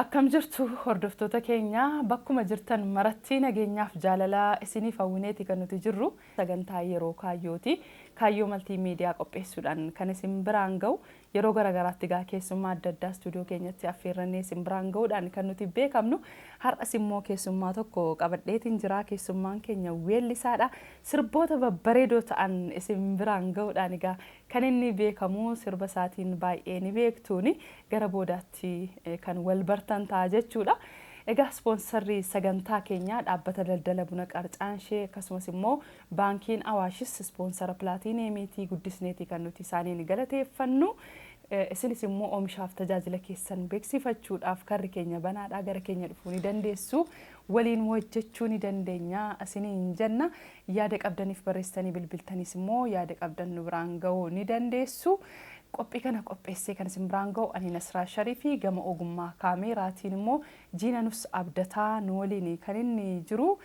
Akkam jirtu hordoftoota keenya bakkuma jirtan maratti nageenyaaf jaalala isiniif hawwineeti kan nuti jirru sagantaa yeroo kaayyooti kaayyoo maltii miidiyaa qopheessuudhaan kan isin biraan ga'u Yeroo gara garaatti egaa keessummaa adda addaa istuudiyoo keenyatti affeerrannee isin biraan ga'uudhaan kan nuti beekamnu. Har'as immoo keessummaa tokko qabadheetiin jira. Keessummaan keenya weellisaadha. Sirboota babbareedoo ta'an isin biraan ga'uudhaan egaa kan inni beekamu sirba isaatiin baay'ee ni beektuuni. Gara boodaatti kan wal bartan ta'a jechuudha. Egaa ispoonsarri sagantaa keenyaa dhaabbata daldala buna Qarcaanshee akkasumas immoo Baankiin Awaashis ispoonsara Pilaatiiniyeemiitii guddisneeti kan nuti isaaniin galateeffannu. Isinis immoo oomishaaf tajaajila keessan beeksifachuudhaaf karri keenya banaadha. Gara keenya dhufuu ni dandeessu. Waliin hojjechuu ni dandeenya isiniin jenna. Yaada qabdaniif barreessitanii bilbiltaniis immoo yaada qabdan nu biraan ga'uu ni dandeessu. Qophii kana qopheessee kan isin biraan ga'u ani Nasraa Shariifi gama ogummaa kaameeraatiin immoo Jiinanus Abdataa nu waliin kan inni jiru.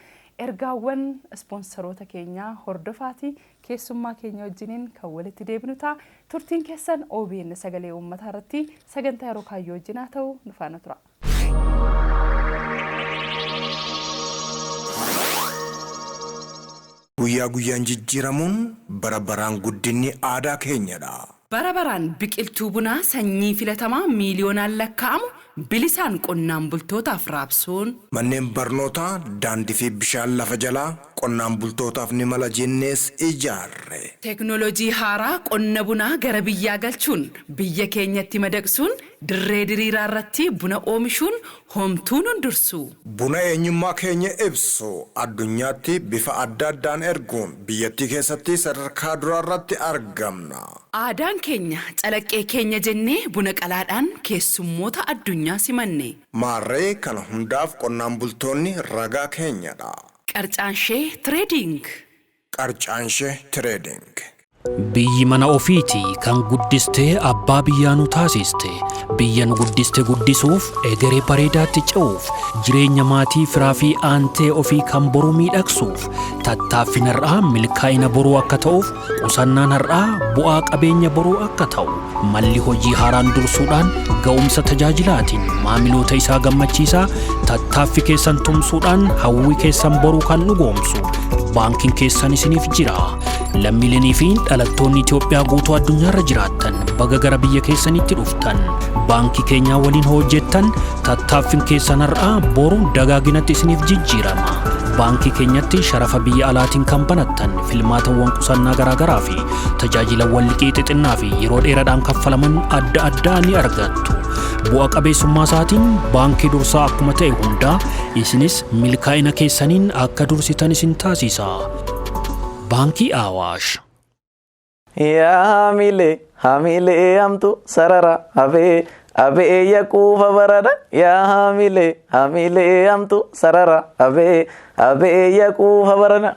Ergaawwan ispoonsaroota keenyaa hordofaatii keessummaa keenya wajjiniin kan walitti deebinu ta'a. Turtiin keessan obn Sagalee Uummataa irratti sagantaa yeroo kaayyoo wajjin haa ta'u nu faana turaa. Guyyaa guyyaan jijjiiramuun bara baraan guddinni aadaa keenyadha. Bara baraan biqiltuu bunaa sanyii filatamaa miiliyoonaan lakkaa'amu bilisaan qonnaan bultootaaf raabsuun. Manneen barnootaa, daandii fi bishaan lafa jalaa qonnaan bultootaaf ni mala jennees ijaarre. Teeknooloojii haaraa qonna bunaa gara biyyaa galchuun biyya keenyatti madaqsuun Dirree diriiraa irratti buna oomishuun homtuu nun dursu. Buna eenyummaa keenya ibsu addunyaatti bifa adda addaan erguun biyyattii keessatti sadarkaa duraa irratti argamna. Aadaan keenya calaqqee keenya jennee buna qalaadhaan keessummoota addunyaa simanne. Maarree kana hundaaf qonnaan bultoonni ragaa keenyadha. Qarcaanshee Trading Qarcaanshe Trading. Biyyi mana ofiiti kan guddiste abbaa biyyaa nu taasiste. Biyya nu guddiste guddisuuf, egeree bareedaatti ce'uuf, jireenya maatii, firaa fi aantee ofii kan boruu miidhagsuuf, tattaaffiin har'aa milkaa'ina boruu akka ta'uuf, qusannaan har'aa bu'aa qabeenya boruu akka ta'u, Malli hojii haaraan dursuudhaan ga'umsa tajaajilaatiin maamiloota isaa gammachiisaa tattaaffi keessan tumsuudhaan hawwii keessan boruu kan dhugoomsu baankiin keessan isiniif jira. Lammiilenii fi dhalattoonni Itoophiyaa guutuu addunyaarra jiraattan baga gara biyya keessanitti dhuftan. Baankii keenyaa waliin hojjettan tattaaffiin keessan har'aa boru dagaaginatti isiniif jijjiirama. Baankii keenyatti sharafa biyya alaatiin kan banattan filmaatawwan qusannaa garaagaraa fi Tajaajilawwan liqii xixinnaa fi yeroo dheeraadhaan kaffalaman adda addaa ni argattu. Bu'a qabeessummaa isaatiin baankii dursaa akkuma ta'e hundaa isinis milkaa'ina keessaniin akka dursitan isin taasisa. Baankii Awaash. Yaa hamilee hamilee hamtu sarara abee abee yaquufa barada yaa hamilee hamilee hamtu sarara abee abee yaquufa barada.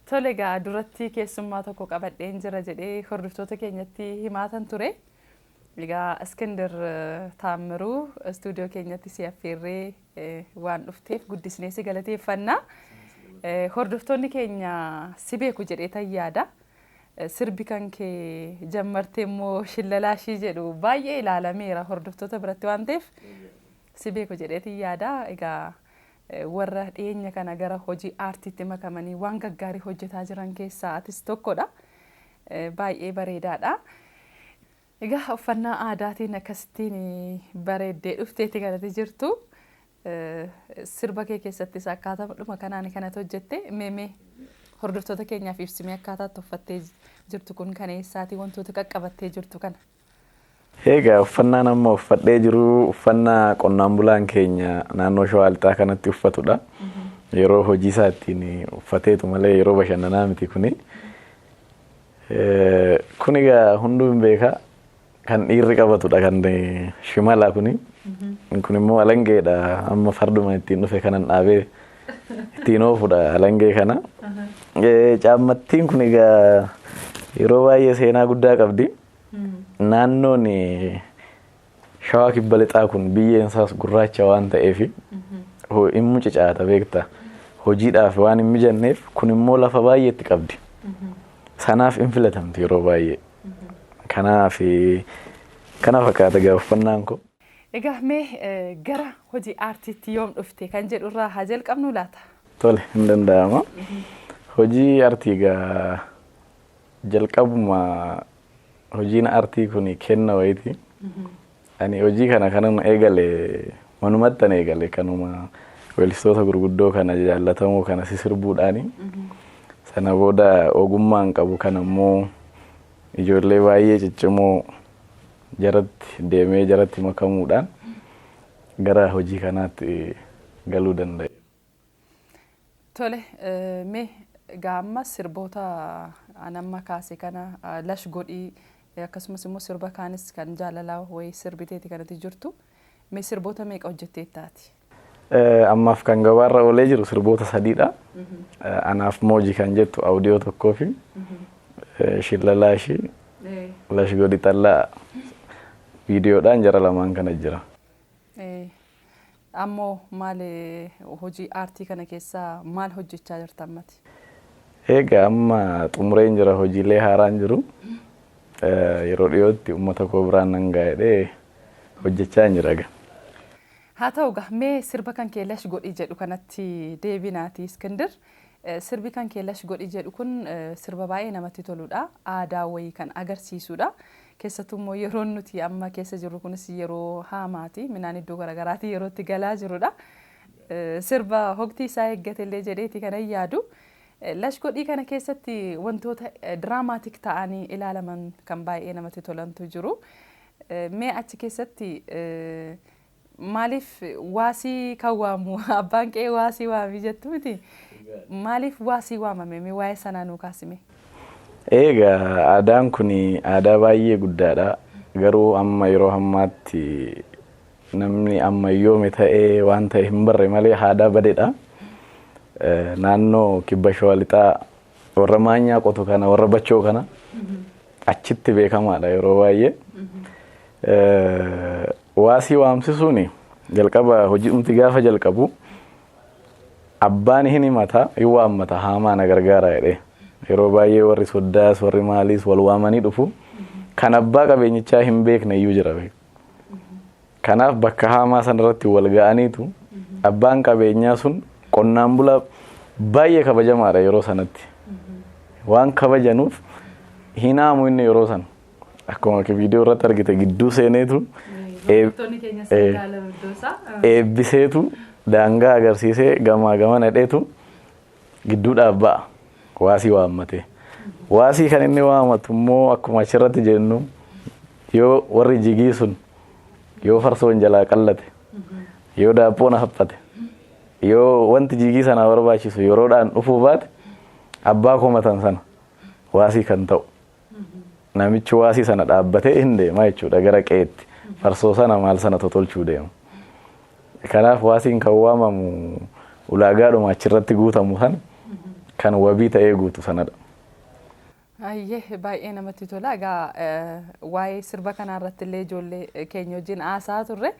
Tole egaa duratti keessummaa tokko qabadheen jira jedhee hordoftoota keenyatti himaataan ture. Egaa Iskindir Taammiruu istuudiyoo keenyatti si affeerree waan dhufteef guddisnee si galateeffanna. Hordoftoonni keenya si beeku jedheetan yaada. Sirbi kan kee jammartee immoo shillalaa ishii jedhu baay'ee ilaalameera hordoftoota biratti waan ta'eef si beeku jedheetan yaada. Egaa Warra dhiyeenya kana gara hojii aartiitti makamanii waan gaggaarii hojjetaa jiran keessaa atis tokkodha. Baay'ee bareedaadha. Egaa uffannaa aadaatiin akkasittiin bareeddee dhufteeti kanatti jirtu. Sirba kee keessattis akkaataadhuma kanaan kanatti hojjette meemee hordoftoota keenyaaf ibsimee akkaataa itti uffattee jirtu kun kan eessaati wantoota qaqqabattee jirtu kana. Eegaa uffannaan amma uffadhee jiru uffannaa qonnaan bulaan keenya naannoo shawaa lixaa kanatti uffatudha. Yeroo hojii isaa ittiin uffateetu malee yeroo bashannanaa miti kuni. Kun egaa hunduu hin beeka kan dhiirri qabatudha kan shimalaa kuni. Kun immoo alangeedha amma farduma ittiin dhufe kanan dhaabee ittiin oofudha alangee kana. Caammattiin kun egaa yeroo baay'ee seenaa guddaa qabdi. Naannoon shawaa kibba lixaa kun biyyeen isaas gurraacha waan ta'eef hin mucucaata beekta. Hojiidhaaf waan hin mijanneef kun immoo lafa baay'eetti qabdi. Sanaaf hin filatamti yeroo baay'ee. Kanaaf kana fakkaata gaafannaan koo. Egaa mee gara hojii aartiitti yoom dhufte kan jedhu irraa haa jalqabnu laata? Tole hin danda'ama. Hojii aartii egaa Jalqabuma hojiin aartii kun kenna wayiiti. Ani hojii kana kanuma eegale manumattan eegale kanuma weellistoota gurguddoo kana jaallatamoo kana sisirbuudhaani. Sana booda ogummaan qabu kana immoo ijoollee baay'ee ciccimoo jaratti deemee jaratti makamuudhaan gara hojii kanaatti galuu danda'e. Tole mee egaa amma sirboota an amma kaase kana lash godhii akkasumas immoo sirba kaanis kan jaalalaa wayii sirbiteeti kanatti jirtu mee sirboota meeqa hojjetteetta ati? Ammaaf kan gabaarra oolee jiru sirboota sadiidha. Anaaf mooji kan jettu awudiyoo tokkoo fi shillalaa ishii lash godhi xallaa viidiyoodhaan jara lamaan kana jira. Ammoo maal hojii aartii kana keessa maal hojjechaa jirta ammati? Eegaa amma xumureen jira hojiilee haaraan jiru. Yeroo dhiyootti uummata koo biraan nan ga'a jedhee hojjechaan jira egaa. Haa ta'u egaa mee sirba kan kee lash godhi jedhu kanatti deebinaati Iskindir. Sirbi kan kee lash godhi jedhu kun sirba baay'ee namatti toludha. Aadaa wayii kan agarsiisudha. Keessattuu immoo yeroon nuti amma keessa jirru kunis yeroo haamaati. Midhaan iddoo garagaraatii yeroo itti galaa jirudha. Sirba hogtii isaa eeggate illee jedheeti kanan yaadu. Lash godhii kana keessatti wantoota diraamaatik ta'anii ilaalaman kan baay'ee namatti tolantu jiru. Mee achi keessatti Maaliif waa si kan waamu abbaan qe'ee waa si waami jettu miti. Maaliif waa si waamame mee waa'ee sanaa nuu kaasi mee. Eegaa aadaan kun aadaa baay'ee guddaadha. Garuu amma yeroo hammaatti namni ammayyoome ta'ee waan ta'e hin barre malee aadaa badedha. Naannoo kibba shawaa lixaa warra maanyaa qotu kana warra bachoo kana achitti beekamaadha yeroo baay'ee. Eh, Waasii waamsisuun jalqaba hojiidhumti gaafa jalqabu abbaan hin himata hin waammata haamaa na gargaara jedhee yeroo baay'ee warri soddaas warri maaliis wal waamanii dhufu kan abbaa qabeenyichaa hin beekne iyyuu jira beeku. Kanaaf bakka haamaa sanarratti wal ga'aniitu abbaan qabeenyaa sun qonnaan bulaa baay'ee kabajamaadha yeroo sanatti. Waan kabajanuuf hin haamu inni yeroo sana. Akkuma viidiyoo irratti argite gidduu seeneetu eebbiseetu daangaa agarsiisee gamaa gama nadheetu gidduudhaaf ba'a. Waasii waammatee. Waasii kan inni waamatu immoo akkuma achirratti jennu yoo warri jigii sun yoo farsoon jalaa qallate yoo daaphoon haphate yoo wanti jigii sanaa barbaachisu yeroodhaan dhufuu baate abbaa komatan sana waasii kan ta'u Namichi waasii sana dhaabbatee hin deema jechuudha gara qe'eetti. Farsoo sana maal sana totolchuu deema. Kanaaf waasiin kan waamamu ulaagaadhuma achirratti guutamu sana kan wabii ta'ee guutu sanadha. Ayyee baay'ee namatti tola. Egaa waa'ee sirba kanaa irratti illee ijoollee keenya wajjin haasaa turre.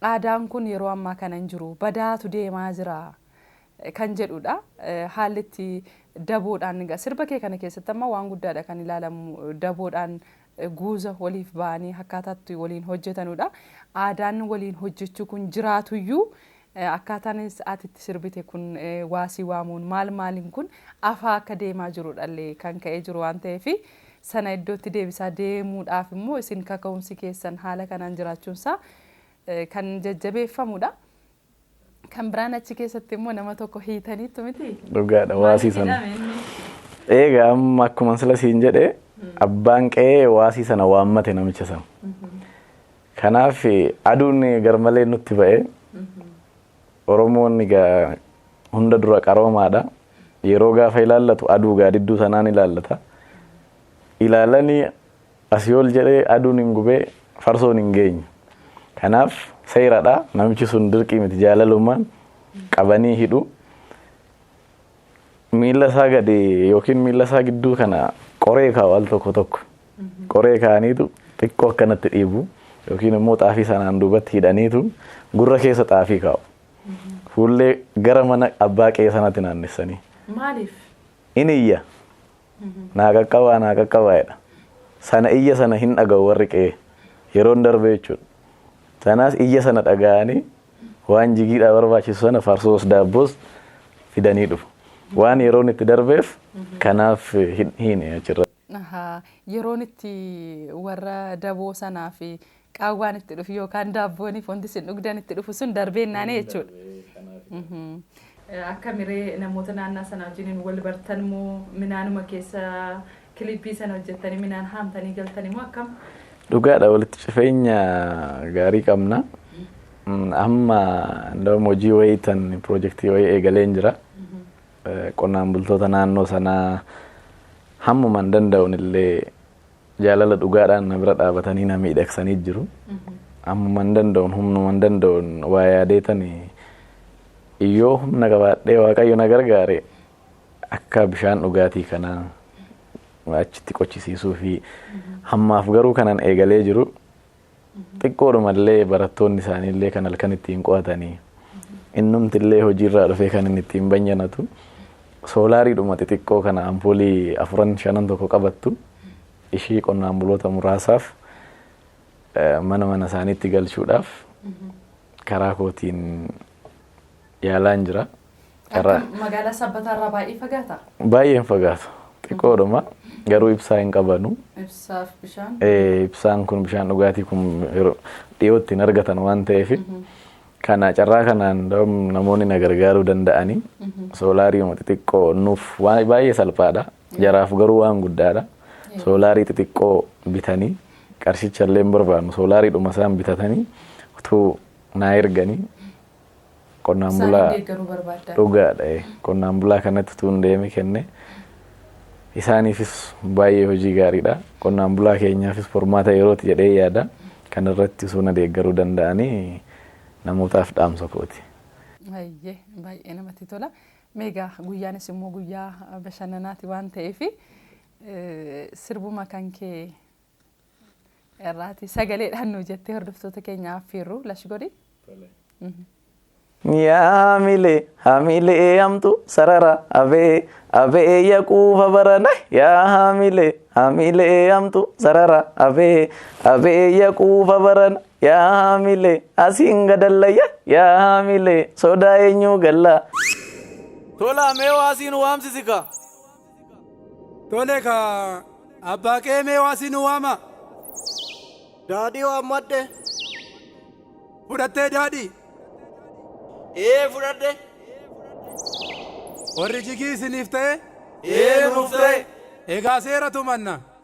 Aadaan kun yeroo ammaa kana hin jiru. Badaatu deemaa jira. kan jedhuudha. Haalli itti daboodhaan egaa sirba kee kana keessatti amma waan guddaadha kan ilaalamu daboodhaan guuza waliif ba'anii akkaataa itti waliin hojjetanuudha. Aadaan waliin hojjechuu kun jiraatuyyuu akkaataan ati itti sirbite kun waasii waamuun maal maaliin kun afaa akka deemaa jirudhallee kan ka'ee jiru waan ta'eef sana iddootti deebisaa deemuudhaaf immoo isin kaka'umsi keessan haala kanaan jiraachuunsaa kan jajjabeeffamudha. Kan biraan achi keessatti immoo nama tokko hiitaniittu miti. Dhugaadha waasii sana. Eega amma akkuma sila siin jedhe abbaan qe'ee waasii sana waammate namicha sana. Kanaaf aduun garmalee nutti ba'e. Oromoon egaa hunda dura qaroomaadha. Yeroo gaafa ilaallatu aduu gaadidduu sanaan ilaallata. Ilaalanii Asii ol jedhee aduun hin gubee farsoon hin geenye. Kanaaf seeradha namichi sun dirqii miti jaalalumaan qabanii hidhu. Miila isaa gadi yookiin miila isaa gidduu kana qoree kaa'u al tokko tokko. Qoree kaa'aniitu xiqqoo akkanatti dhiibu yookiin immoo xaafii sanaan duubatti hidhaniitu gurra keessa xaafii kaa'u. Fuullee gara mana abbaa qe'ee sanatti naannessanii. Maaliif? Inni iyya. Naa qaqqabaa naa qaqqabaa jedha. Sana iyya sana hin dhaga'u warri qe'ee. Yeroon darbee jechuudha. Sanaas iyya sana dhaga'anii waan jigiidhaa barbaachisu sana farsoos daabboos fidanii dhufu. Waan yeroon itti darbeef kanaaf hin hiine achirra. Ahaa, Yeroon itti warra daboo sanaa fi qaawwaan itti dhufu yookaan daabbooniif wanti isin dhugdan itti dhufu sun darbee naanee jechuudha. Akkamiree namoota naannaa sana wajjiniin wal bartan moo minaanuma keessa kilippii sana hojjettanii minaan haamtanii galtanii moo akkam? Dhugaadha walitti cifeenya gaarii qabna. Amma ndawam hojii wayii tan pirojektii wayii eegaleen jira. Qonnaan bultoota naannoo sanaa hammuman danda'uun illee jaalala dhugaadhaan na bira dhaabatanii na miidhagsanii jiru. Ammuma hin danda'uun humnuma hin danda'uun waa yaadeetani yoo humna qabaadhee waaqayyo na gargaare akka bishaan dhugaatii kanaa achitti qochisiisuu fi hammaaf garuu kanan eegalee jiru Xiqqoodhuma illee barattoonni isaanii illee kan halkan ittiin qo'atanii innumti illee hojiirraa dhufee kan inni ittiin banyanatu soolaariidhuma xixiqqoo kana ampoolii afuran shanan tokko qabattu ishii qonnaan buloota muraasaaf mana mana isaaniitti galchuudhaaf karaa kootiin yaalaan jira. Karaa- Akka magaalaa sabbataa irraa baay'ee fagaata. Baay'een fagaata. Xiqqoodhuma garuu ibsaa hin qabanu. Ibsaaf bishaan. Eh, Ibsaan kun bishaan dhugaatii kun yeroo dhiyootti hin argatan waan ta'eef kana carraa kanaan dam- namoonni na gargaaruu danda'anii soolaariima xixiqqoo nuuf waan- baay'ee salphaadha. Jaraaf garuu waan guddaadha. Soolaarii xixiqqoo bitanii qarshicha illee hin barbaannu soolaariidhuma isaan bitatanii utuu naa erganii Qonnaan Isaan bulaa deeggaruu barbaaddan. dhugaadha. eh. Qonnaan bulaa kanatti utuu hin deemi kenne isaaniifis baay'ee hojii gaariidha. Qonnaan bulaa keenyaafis furmaata yerooti jedhee yaada. Kana irratti osoo na deeggaruu danda'anii namootaaf dhaamsa kooti. Baay'ee baay'ee namatti tola. Meegaa guyyaanis immoo guyyaa bashannanaati waan ta'eef sirbuma kan kee irraati sagaleedhaan nuu jettee hordoftoota keenya affeerru lash godhi. Yaa hamilee hamilee hamtu sarara abee abee yaquufa barana yaa hamilee hamilee hamtu sarara abee abee yaquufa barana yaa hamilee asiin gadallayya yaa hamilee sodaa eenyuu gallaa. Tolaa mee waasiin waamsisika. Tole ka abbaa qeemee waa si nu waama. Daadhii waammadhe. Fudhattee daadhii. Ee fudhadhe. Warri jigii isiniif ta'e. Ee nuuf ta'e. Egaa seera tumanna.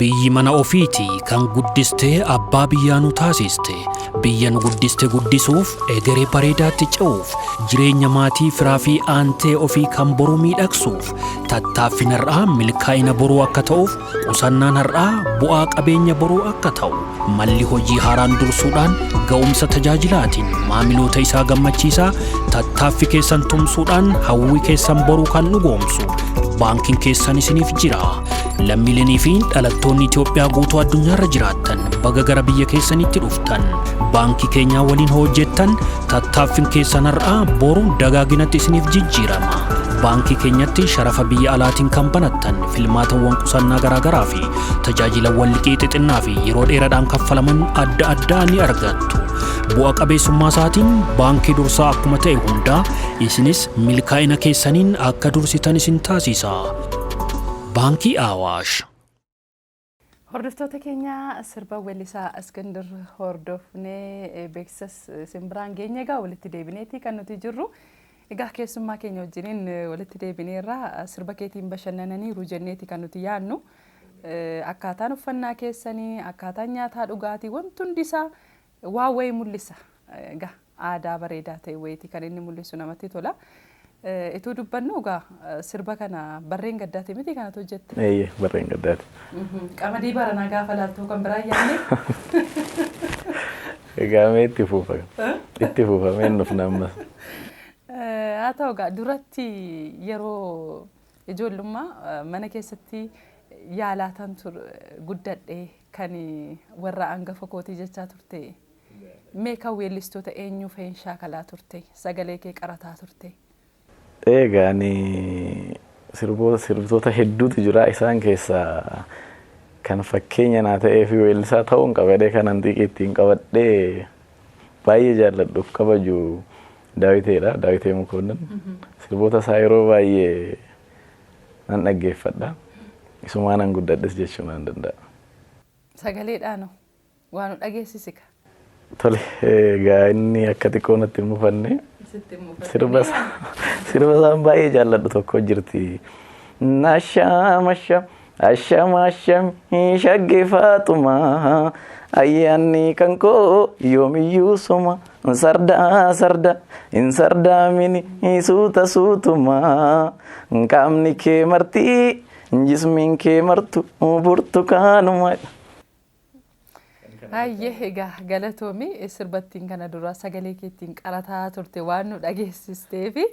Biyyi mana ofiiti kan guddiste abbaa biyyaa nu taasiste. Biyya nu guddiste guddisuuf, egeree bareedaatti ce'uuf, jireenya maatii, firaa fi aantee ofii kan boruu miidhagsuuf, tattaaffiin har'aa milkaa'ina boruu akka ta'uuf, qusannaan har'aa bu'aa qabeenya boruu akka ta'u, Malli hojii haaraan dursuudhaan ga'umsa tajaajilaatiin maamiloota isaa gammachiisaa tattaaffi keessan tumsuudhaan hawwii keessan boruu kan dhugoomsu baankiin keessan isiniif jira. Lammiilenii fi dhalattoonni Itoophiyaa guutuu addunyaarra jiraattan baga gara biyya keessanitti dhuftan. Baankii keenyaa waliin hojjettan tattaaffin keessan har'aa boru dagaaginatti isiniif jijjiirama. Baankii keenyatti sharafa biyya alaatiin kan banattan filmaatawwan qusannaa garaagaraa fi Tajaajilawwan liqii xixinnaa fi yeroo dheeraadhaan kaffalaman adda addaa ni argattu. Bu'a qabeessummaa isaatiin baankii dursaa akkuma ta'e hundaa isinis milkaa'ina keessaniin akka dursitan isin taasisa. Baankii Awaash. Hordoftoota keenya sirba weellisaa Askindir hordofnee beeksisas isin biraan geenye egaa walitti deebineeti kan nuti jirru. Egaa keessummaa keenya wajjiniin walitti deebineerra. Sirba keetiin bashannananiiru jenneeti kan nuti yaadnu. Akkaataan uffannaa keessanii, akkaataan nyaataa dhugaatii wanti hundi isaa waa wayii mul'isa. Egaa aadaa bareedaa ta'e wayiiti kan inni mul'isu namatti tola. Ituu dubbannu egaa sirba kana barreen gaddaati miti kanatu hojjette. Eeyyee barreen gaddaati. Qamadii baranaa gaafa laaltuu kan biraa yaadne. Egaa mee itti fufa. Itti fufa mee hin dhufna ammas. Haa ta'u egaa duratti yeroo ijoollummaa eh, mana keessatti yaalaatan tur guddadhe kan warra angafa kootii jechaa turte. Mee kan weellistoota eenyuu fa'iin shaakalaa turte? Sagalee kee qarataa turte? Eegaa ani sirboota sirbitoota hedduutu jira isaan keessaa kan fakkeenya naa ta'ee fi weellisaa ta'uun qabadee kanan xiiqii ittiin qabadhee baay'ee jaalladhuuf kabaju daawiteedha daawitee mukoonnan sirboota isaa yeroo baay'ee nan dhaggeeffadha isumaanan guddadhes jechuu nan danda'a. Sagaleedhaanoo. Waa nu dhageessisika. Tole egaa inni akka xiqqoo natti hin mufanne sirba isaa sirba isaan baay'ee jaalladhu tokko jirti. Nashaam asham asham asham hin shagge faaxuma ayyaanni kan koo yoomiyyuu suma sardaa sarda hin sardaamini suuta suutuma qaamni kee marti jismiin kee martu burtukaanuma. Hayyee egaa galatoomi sirbattiin kana dura sagalee keettiin qarataa turte waan nu dhageessisteefi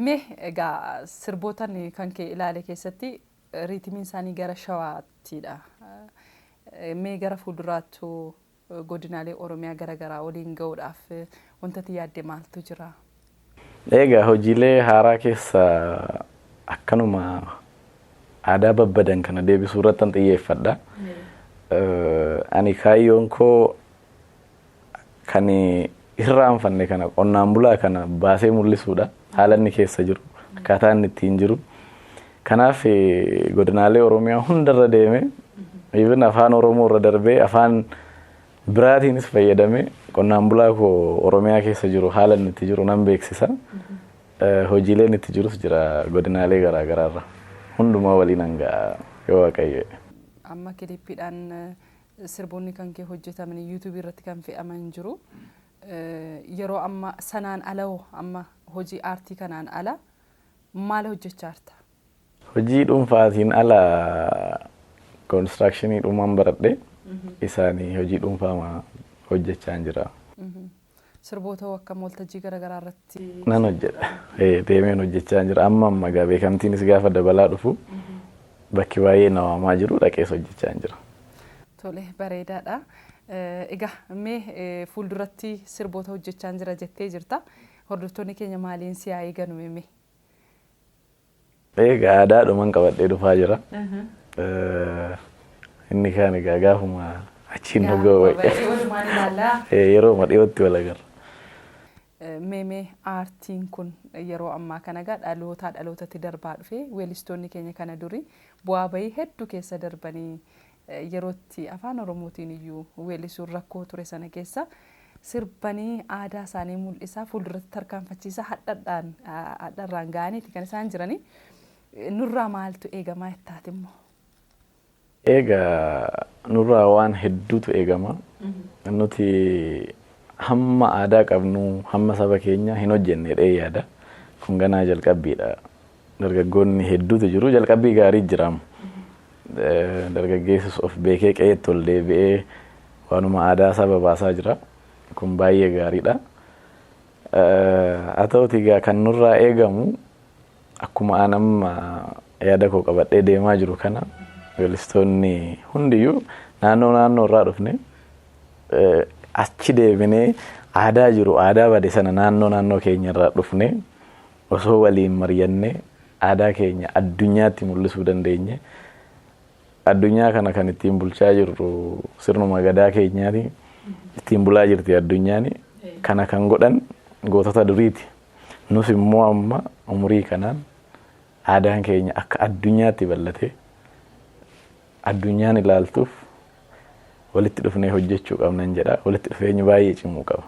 mee egaa sirbootan kan kee ilaale keessatti riitimiin isaanii gara shawaattiidha. Mee gara fuulduraattu godinaalee Oromiyaa gara garaa waliin ga'uudhaaf wanta ati yaadde maaltu jira? Eegaa hojiilee haaraa keessa akkanuma aadaa babbadan kana deebisuu irratti an xiyyeeffadha. Ani kaayyoon koo kan hirraanfanne kana qonnaan bulaa kana baasee mul'isuudha. Haala inni keessa jiru akkaataa inni ittiin jiru. Kanaaf godinaalee Oromiyaa hundarra deeme even afaan Oromoo irra darbee afaan biraatiinis fayyadame qonnaan bulaa koo Oromiyaa keessa jiru haala inni itti jiru nan beeksisa. Hojiileen itti jirus jira godinaalee garaa garaarra hundumaa waliin hanga yoo waaqayyo. Amma kiliippiidhaan Sirboonni kankee hojjetamanii YouTube irratti kan fe'aman jiru. Yeroo amma sanaan ala hoo amma hojii aartii kanaan ala maal hojjechaa jirta? Hojii dhuunfaatiin ala konistiraakshiniidhumaan baradhe isaanii hojii dhuunfaa hojjechaan jira. Sirboota hoo akkam waltajjii garaagaraa irratti? Nan hojjedha. Ee, Deemeen hojjechaa jira. Amma amma egaa beekamtiinis gaafa dabalaa dhufu bakki baay'ee na waamaa jiru dhaqees hojjechaa jira. Tole bareedaadha. Eh, Egaa mee eh, fuulduratti sirboota hojjechaa jira jettee jirta. Hordoftoonni keenya maaliin si haa eeganu mee? Egaa aadaadhuman qabadhee dhufaa jira. Inni kaan egaa gaafuma achiin nu ga'u wayya. Yerooma dhiyootti wal agarra. Meemee aartiin kun yeroo ammaa kana egaa dhalootaa dhalootatti darbaa dhufee weellistoonni keenya kana durii bu'aa bahii hedduu keessa darbanii Yeroo itti Afaan Oromootiin iyyuu weelisuun rakkoo ture sana keessa sirbanii aadaa isaanii mul'isaa fuulduratti tarkaanfachiisaa hadhadhaan hadharraan ga'aniiti kan isaan jiranii. Nurraa maaltu eegamaa jettaati immoo? Eega nurraa waan hedduutu eegama. Nuti hamma aadaa qabnu hamma saba keenya hin hojjenne jedhee yaada. Kun ganaa jalqabbiidha. Dargaggoonni hedduutu jiru. Jalqabbii gaarii jira. Dargaggeessis of beekee qe'eetti ol deebi'ee waanuma aadaa isaa babaasaa jira. Kun baay'ee gaariidha. Haa ta'uutii egaa kan nurraa eegamu akkuma an amma yaada koo qabadhee deemaa jiru kana weellistoonni hundiyyuu naannoo naannoo irraa dhufne achi deebinee aadaa jiru aadaa bade sana naannoo naannoo keenya irraa dhufne Osoo waliin maryannee aadaa keenya addunyaatti mul'isuu dandeenye. Addunyaa kana kan ittiin bulchaa jirru sirnuma gadaa keenyaati. Ittiin bulaa jirti addunyaan. Kana kan godhan gootota duriiti. Nus immoo amma umurii kanaan aadaan keenya akka addunyaatti bal'atee addunyaan ilaaltuuf walitti dhufnee hojjechuu qabnan jedha. Walitti dhufeenyi baay'ee cimuu qaba.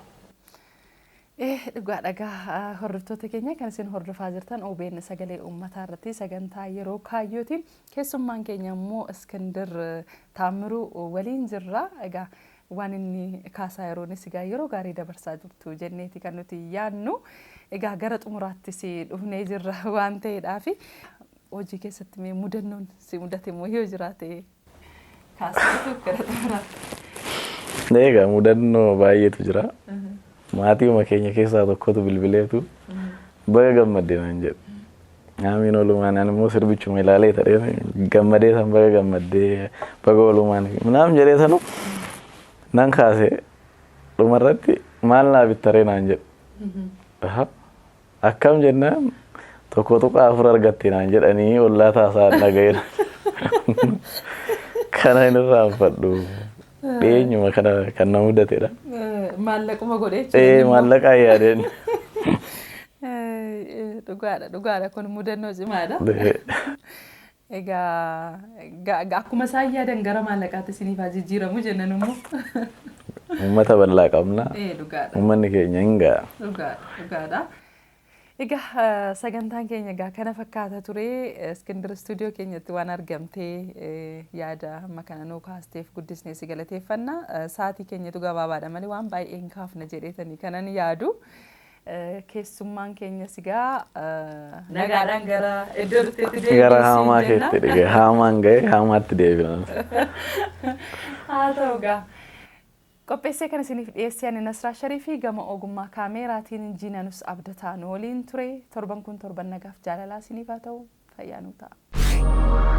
Dhugaadha egaa hordoftoota keenya kan isin hordofaa jirtan OBN sagalee uummataa irratti sagantaa yeroo kaayyooti. Keessummaan keenya immoo Iskindir Taammiruu waliin jirra. Egaa waan inni kaasaa yeroonis egaa yeroo gaarii dabarsaa jirtu jenneeti kan nuti yaadnu. Egaa gara xumuraattis dhufnee jirra waan ta'eedhaafi hojii keessatti mee mudannoon si mudate immoo yoo jiraate Kaasifatuuf gara xumuraa. Egaa mudannoo baay'eetu jira. Maatiima keenya keessaa tokkotu bilbileetu baga gammadde naan jedhe. Aamiin oolumaan ani immoo sirbichuma ilaalee ta'ee gammadee san baga gammaddee baga oolumaan naam jedhee sanu nan kaase dhumarratti maal naa bittaree naan jedhe. Aha. Akkam jennaan tokko tuqaa afur argatte naan jedhanii ollaa taasaan dhaga'eera. Kana hin irraanfadhu. Dhiyeenyuma kana kan na mudatedha. Maallaquma godhee Ee maallaqaa yaadeen. Dhugaadha dhugaadha kun mudannoo cimaadha. Egaa akkuma isaan yaadan gara maallaqaatti isiniif haa jijjiiramu jenna nummoo. Uummata bal'aa qabna. Ee dhugaadha. Uummanni keenya hin ga'a. Dhugaadha, dhugaadha. Egaa eh, sagantaan keenya egaa kana fakkaata ture. Eh, Iskindir istuudiyoo keenyatti waan argamtee eh, yaada amma kana nuu kaasteef guddisnee si galateeffanna. Eh, Sa'aatii keenyatu gabaabaadha malee waan baay'ee hin kaafna jedheetanii kanan yaadu. Keessummaan keenyas egaa nagaadhaan gara iddoo dhufteetti deebi'u Gara siin haamaa jenna. keetti dhige. Haamaan ga'e haamaatti deebi'an. Haa ta'u egaa. Qopheessee kan isiniif dhiyeessee ani Nasraa Shariifii gama ogummaa kaameeraatiin Jiinanus Abdataa nu waliin ture. Torban kun torban nagaaf jaalalaa isiniif haa ta'u. Fayyaa nuu ta'a.